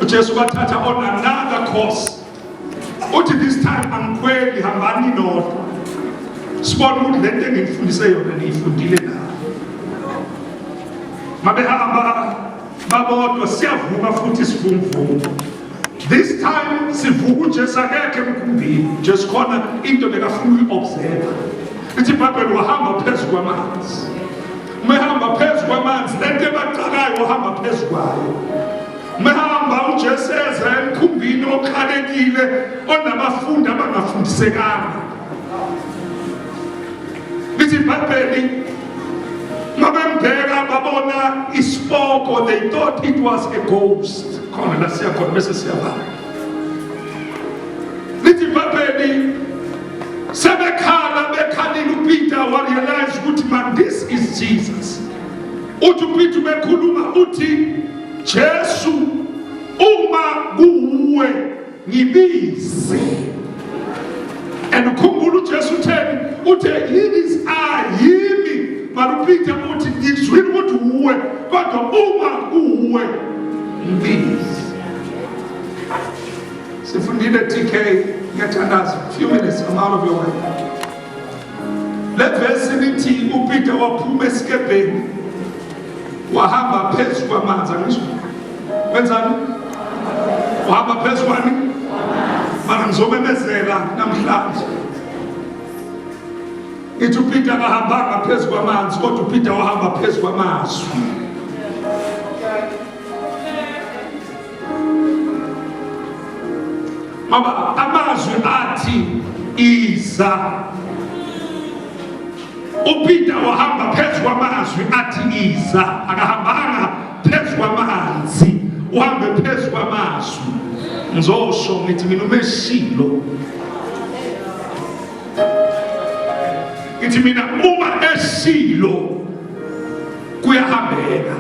uJesu wathatha on another course uthi this time angikhweli hambani nodwa sibona ukuthi le nto engikufundise yona niyifundile na mabehamba babodwa siyavuma futhi sivumvumo this time sivuka ujesu akekhe emkhumbini jesu khona into bekafuna uyi-observa ithi ibhayibheli wahamba phezu kwamanzi uma ehamba phezu kwamanzi le nto ebaqakayo ohamba phezu kwayo uma ehamba ujesu eza emkhumbini okhalekile onabafundi abangafundisekanga lithi ibhayibheli mabembheka babona isipoko they thought it was a ghost khona la siyakhona bese siyabala lithi ibhabheli sebekhala bekhalile upeter warealize ukuthi man this is jesus uthi upeter ubekhuluma uthi jesu uma kuwuwe ngibize and ukhumbula ujesu utheni uthe yini is ayimi balupite muti izwi kuti uwe kodwa uma uwe mbizi Sifundile TK ngiyathandaza few minutes I'm out of your way. Le verse lithi uPeter waphuma esikebheni wahamba phezu kwamanzi angisho wenzani wahamba phezu kwani mara ngizomemezela namhlanje ithi uPeter akahambanga phezu kwamanzi kodwa uPeter wahamba phezu kwamazwi Mama, amazwi athi iza uPeter wahamba phezu kwamazwi athi iza, akahambanga phezu kwamanzi, uhambe phezu kwamazwi. Ngizosho ngithi mina umeshilo ngithi mina uma eshilo kuyahambeka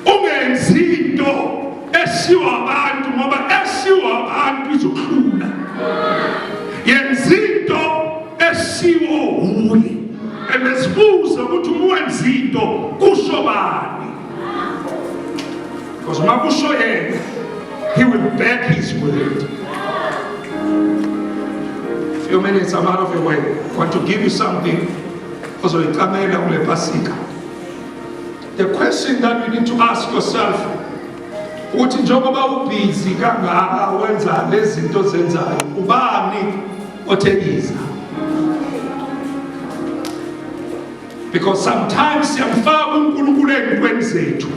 ungenzi into esiwa abantu ngoba esiwa abantu izohlula yenza into esiwo hule ebezibuze ukuthi uma wenza into kusho bani because uma kusho yena he will back his word few minutes i'm out of your way I want to give you something ozoyicamela kule pasika the question that you need to ask yourself ukuthi njengoba ubhizi kangaka wenza lezi zinto zenzayo ubani othekiza because sometimes siyamfaka unkulunkulu ey'ntweni zethu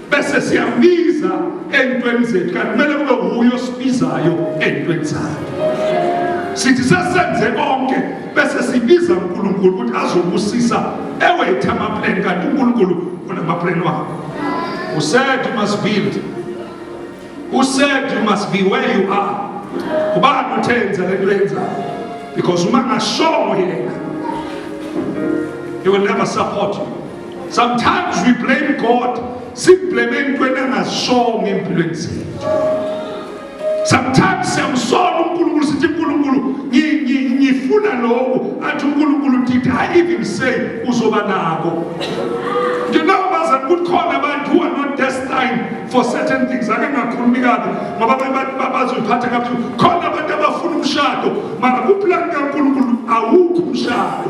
bese siyambiza ey'ntweni zethu kanti kumele kube wuyo osibizayo ey'ntweni zakhe sithi sesenze konke bese sibiza unkulunkulu ukuthi azobusisa ewethe amapleni kanti unkulunkulu unamapleni wakho usaid you must build usaid you must be where you are ubani uthenza le nto yenzayo because uma ngashongo yena he will never support you Sometimes we blame God. Simblame entweni angazisongo empilweni zethu. Sometimes siyamsona uNkulunkulu sithi uNkulunkulu ngifuna lokhu athi uNkulunkulu did I even say uzoba nako. You know bazali kukhona abantu who are not destined for certain things. Ake ngakhulumi kabi ngoba abantu bazophatha kabi. Khona abantu abafuna umshado mara kuplan kaNkulunkulu awukho umshado.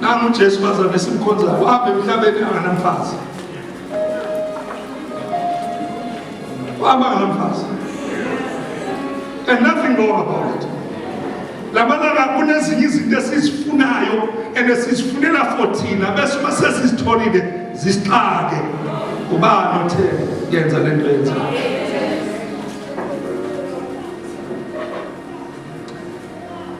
Nangu uJesu bazalwane simkhonzayo apha emhlabeni anganamfazi. Waba ngamfazi. And nothing wrong about it. Labalala kunezinye izinto esizifunayo and esizifunela for thina bese uma sesizitholile zisixake. Ubani othe yenza le nto yenzayo?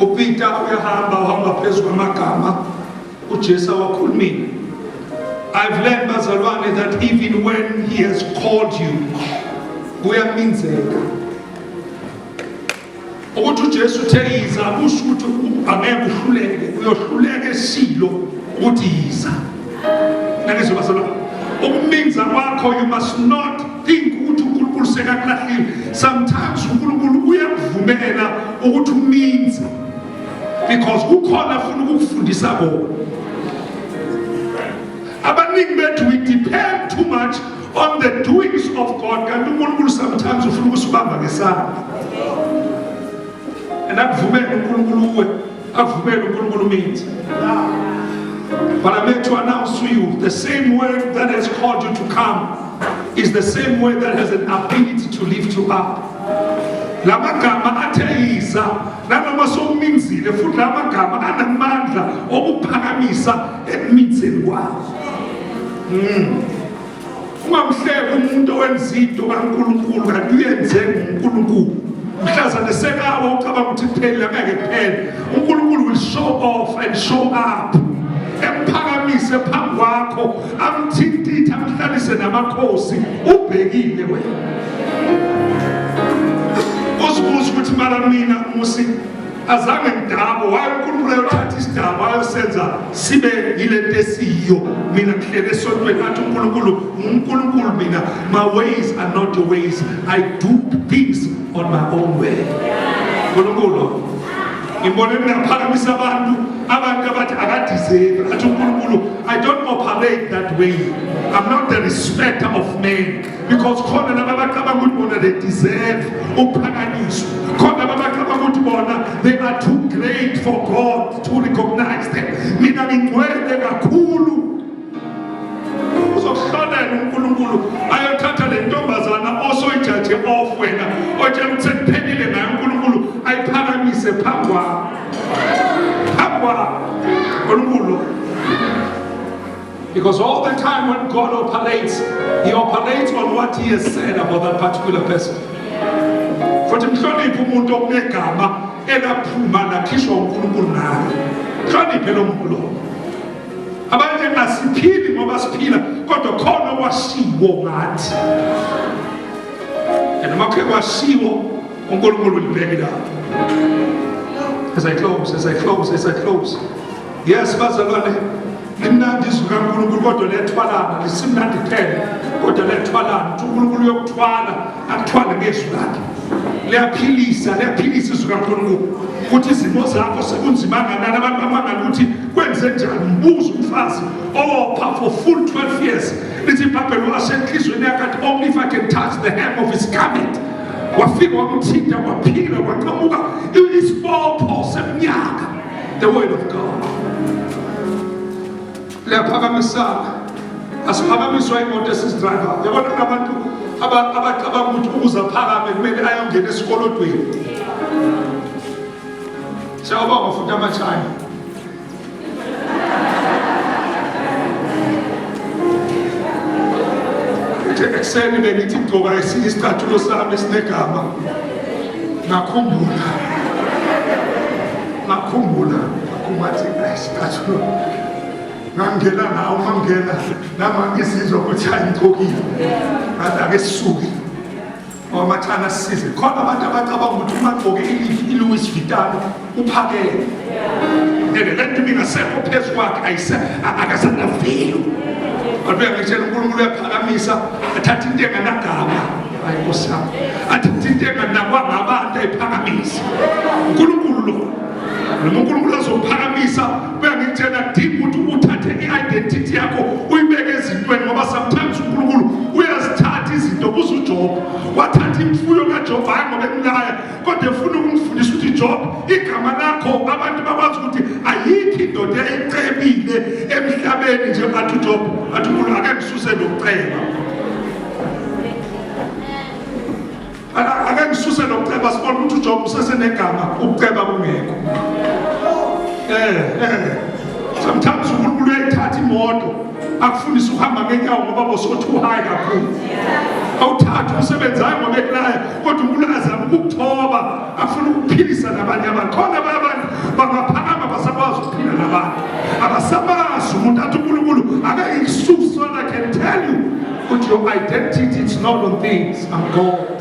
uPeter uyahamba uhamba phezu kwamagama uJesu awakhulumile I've learned bazalwane that even when he has called you kuyaminzeka ukuthi uJesu uthe yiza kusho ukuthi angeke uhluleke uyohluleka esilo ukuthi yiza nake zobazalwane ukuminza kwakho you must not think ukuthi uNkulunkulu sekakulahlile sometimes uNkulunkulu uyakuvumela ukuthi uminze because kukhona afuna ukukufundisa kona abaningi bethu we depend too much on the doings of God kanti uNkulunkulu sometimes ufuna ukusibamba ngesandla and akuvumele uNkulunkulu uwe Avumele uNkulunkulu umenzi. But I'm here to announce to you the same word that has called you to come is the same word that has an ability to lift you up. La magama atheyiza nanoma sowuminzile futhi la magama anamandla okuphakamisa ekumitheni kwakho. Mm. ungamhleki umuntu owenza into kaNkulunkulu kanti uyenze nguNkulunkulu mhlaza nesekawa ucabanga ukuthi kupheli angeke kuphele uNkulunkulu will show off and show up emphakamise phambi kwakho amthintithe amhlalise namakhosi ubhekile wena uzibuza ukuthi mara mina musi azange ngidabo waye uNkulunkulu ayothatha isidabo ayosenza sibe yilento esiyiyo mina ngihlele esontweni athi uNkulunkulu uNkulunkulu mina my ways are not your ways i do things on my own way uNkulunkulu ngibone ngaphakamisa abantu abantu abathi akadizeki athi uNkulunkulu i don't operate that way i'm not the respecter of men because khona laba bacabanga ukuthi bona they deserve ukuphakanyiswa khona laba bacabanga ukuthi bona they are too great for god to recognize them mina ngingcwele kakhulu uzokuhlolela unkulunkulu ayothatha le ntombazana osoyijaje off wena otshela ukuthi sekuphelile ngayo unkulunkulu ayiphakamise phambi kwakho phambi kwakho unkulunkulu Because all the time when God operates, He operates on what He has said about that particular person. Futhi mhloniphe umuntu okunegama elaphuma lakhishwa uNkulunkulu naye. Mhloniphe lo muntu lowo. Abanye asiphili ngoba siphila kodwa khona okwashiwo ngathi. And uma kuke kwashiwo uNkulunkulu ulibheke lapho. As I close, as I close, as I close. yes bazalwane limnandi izwi kankulunkulu kodwa lethwalana lisimnandi phela kodwa lethwalana ukuthi unkulunkulu uyokuthwala akuthwale ngezwi lakhe liyaphilisa liyaphilisa izwi kankulunkulu ukuthi izimo zakho sekunzima kanani abantu bamangala ukuthi kwenze njani mbuza umfazi owopha for full 12 years lithi ibhabheli wasenhlizweni yakathi only if i can touch the hem of his garment wafika wamthinta waphila waqhamuka isibopho semnyaka The word of God. Liyaphakamisana. Asiphakamiswa imoto esizidriver. Yabona kunabantu abacabanga ukuthi ukuze aphakame kumele ayongena esikolodweni. Siyabonga futhi amachina. Ekuseni bengithi ngigqoka isicathulo sami sinegama. ngakhumbula ngakhumbula kumathi asikathu ngangena nawo mangena nami angizizwa ukuthi ayingicokile ngathi ake sisuke ngoba mathana sisize khona abantu abacabanga ukuthi uma gqoke ilouis vitalo uphakele ngeke lento ibingasekho phezu kwakhe ayise akasanavilo kodwa uyangitshela unkulunkulu uyaphakamisa athatha into enganagama hayi nkosi yami athatha into enganakwa ngabantu ayiphakamisa unkulunkulu lo noma unkulunkulu azophakamisa kuyangitshela deep ukuthi uthathe i-identity yakho uyibeke ezintweni ngoba sometimes unkulunkulu uyazithatha izinto kuze ujoba wathatha imfuyo kajoba hayi ngoba emlaya kodwa efuna ukungifundisa ukuthi job igama lakho abantu bakwazi ukuthi ayikho indoda eyicebile emhlabeni nje bathi ujob athi umuntu ake ngisuse nokuceba ake ngisuse nokuceba sibona ukuthi ujob usesenegama ukuceba kungekho um um sometimes unkulunkulu uyayithatha imoto akufundisa ukuhamba ngenyawo ngoba bosothi uhayi kakhulu awuthathe umsebenzi hayi ngoba ekulaya kodwa unkulunkulu azama ukukuthoba afuna ukuphilisa nabanye abantu khona abanye abantu bangaphakama basakwazi ukuphila nabantu abasamazi umuntu athi unkulunkulu akayikususi so i can tell you ukuthi your identity it's not on things i'm god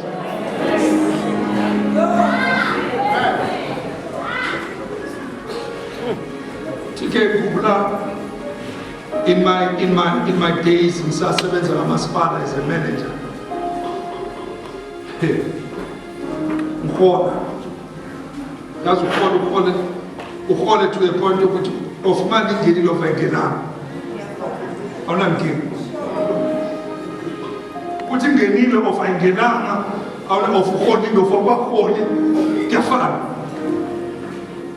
Tike kubla In my, in my, in my days ngisasebenza kamasipala as a manager ngihola ngaze uhola uhole uhole to a point yokuthi of imali ingenile of engenanga awunankinga ukuthi ngenile of ayingenanga awuna of uholile of akwaholi kuyafana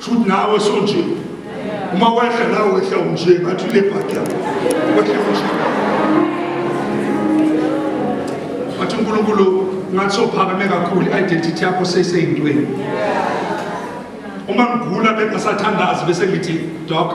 Shuthi nawe sonje. Uma wehla nawe wehla unje ngathi le bhaki yakho. Wehla unje. Wathi uNkulunkulu ngathi sophakame kakhulu identity yakho seseyintweni. Uma ngigula bengasathanda azi bese ngithi doc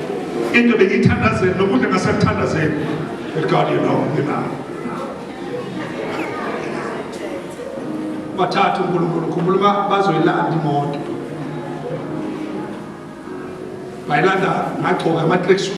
into bengiyithandazela nokudla ngasakuthandazela God you know nginayo bathatha uNkulunkulu khumbula uba bazoyilanda imoto bayilanda ngagcoka ama-tracksuit